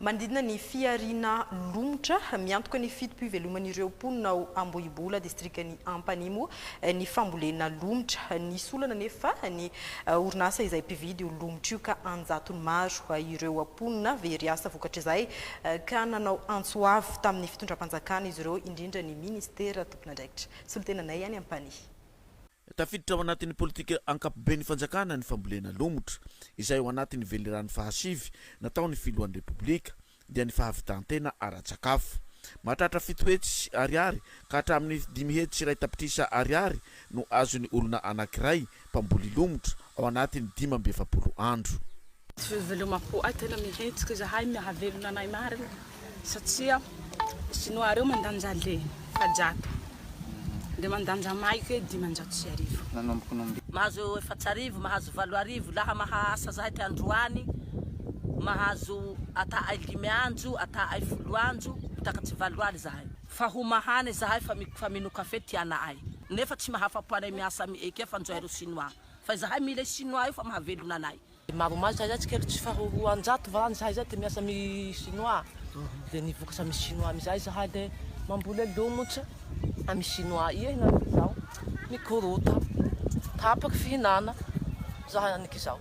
Manodidina ny fihariana lomotra miantoka ny fitopiveloman'ireo mponina ao Ambohibola, distrikan'i Ampanimo ny fambolena lomotra. Nisy olana anefa ny orinasa izay mpividy io lomotra io ka an-jatony maro ireo mponina very asa vokatr'izay ka nanao antso avo tamin'ny fitondram-panjakana izy ireo indrindra ny minisitera tompon'andraikitra. Solontenanay any Ampanihy. Tafiditra ao anatin'ny politika ankapoben'ny fanjakana ny fambolena lomotra, izay ao anatin'ny velirano fahasivy nataon'ny filohan'ny Repoblika, dia ny fahavitan-tena ara-tsakafo. Mahatratra fito hetsy ariary ka hatramin'ny dimy hetsy sy iray tapitrisa ariary no azon'ny olona anankiray mpamboly lomotra ao anatin'ny dimy amby efapolo andro. Tsy velomako ahy tena mihetsika izahay mihavelona anay marina satsia sinoa reo mandanja le fa jato de mandanja maika e dimanjato sy arivo nanomboka nombi Mahazo efatsarivo, mahazo valo arivo laha maha asa zahay ty androany mahazo ata ay limy anjo ata ay folo anjo mitakatry valo aly zahay. Fa ho mahana izahay fa fa mino kafe ty ana'ay nefa tsy mahafa-po anay miasa am eke fanjo ay ro sinoa fa izahay mila i sinoa io fa mahavelona anay. Dia maromaro izahay izay tsika tsy faha roanjato varany izahay izay dia miasa am i sinoa dia ny vokatra am i sinoa am izay izahay dia mamboly lomotra am i sinoa ia hinanako izao mikorota tapaka fihinana izahay aniko izao.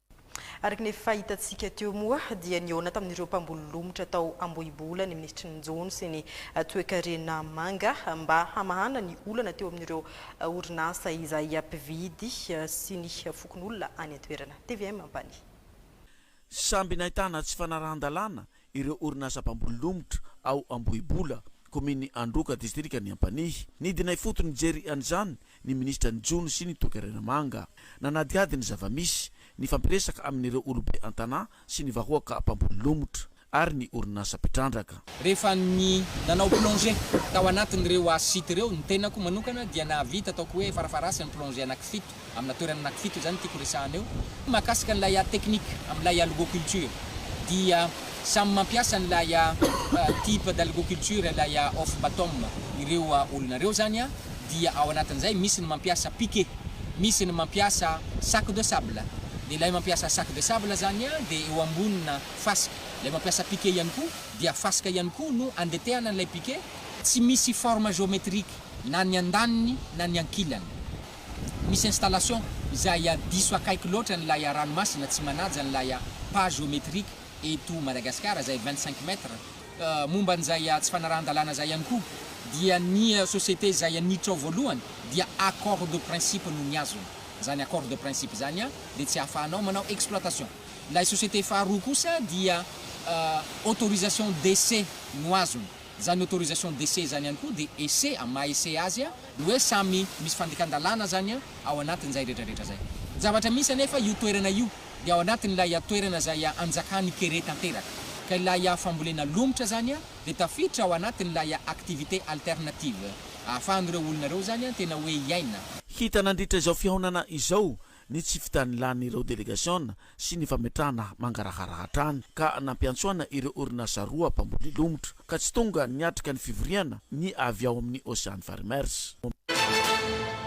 Araka ny efa hitantsika teo moa dia nihaona tamin'ireo mpamboly lomotra tao Ambohibola ny minisitry ny Jono sy ny toekarena manga mba hamahana ny olana teo amin'ireo orinasa izay mpividy sy ny fokonolona any an-toerana. Tvm Ampanihy. Samby nahitana tsy fanarahan-dalàna ireo orinasa mpamboly lomotra ao Ambohibola, kominin'i Androka, distrikan'i Ampanihy. Nidina ifotony nijery an'izany ny minisitra ny Jono sy ny Toekarena Manga. Nanadihady ny zava-misy, nifampiresaka amin'ireo olobe an-tanà sy ny vahoaka mpamboly lomotra ary ny orinasa mpitrandraka. Rehefa nanao plongée tao anatin'ireo hazo site ireo ny tenako manokana dia nahavita ataoko hoe farafaharasiny plongée anaky fito. Amina toerana anankifito izany tiako resahana eo. Mahakasika an'ilay art technique amin'ilay algoculture dia samy mampiasa an'ilay type d'algoculture ilay off bottom ireo olona ireo izany dia ao anatin'izay misy ny mampiasa piquet, misy ny mampiasa sac de sable dia ilay mampiasa sac de sable izany dia eo ambonina fasika, ilay mampiasa piquet ihany koa dia fasika ihany koa no andetehana an'ilay piquet, tsy misy forme géométrique na ny andaniny na ny ankilany. misy installation izay diso akaiky loatra an'ilay ranomasina tsy manaja an'ilay pas géométrique eto Madagasikara izay vingt cinq mètres. Momba an'izay tsy fanarahan-dalàna izay ihany koa dia ny société izay niditra ao voalohany dia accord de principe no nihazona izany accord de principe izany dia tsy ahafahanao manao exploitation. Ilay société faharoa kosa dia autorisation d'essai no azony. Zany autorisation d'essai zany ihany koa dia essai amin'ny maha essai azy dia hoe samy misy fandikan-dalàna zany ao anatin'izay retraretra zay. Ny zavatra misy anefa io toerana io dia ao anatin'ilay toerana izay anjakan'i Kere tanteraka. Ka ilay fambolena lomotra zany dia tafiditra ao anatin'ilay activité alternative ahafahan'ireo olona ireo zany tena hoe hiaina. Hita nandritra izao fihaonana izao ny tsy fitanilan'ireo delegasiona sy ny fametrahana mangarahara hatrany ka nampiantsoana ireo orinasa roa mpamboly lomotra ka tsy tonga niatrika ny fivoriana ny avy ao amin'ny Ocean Farmers.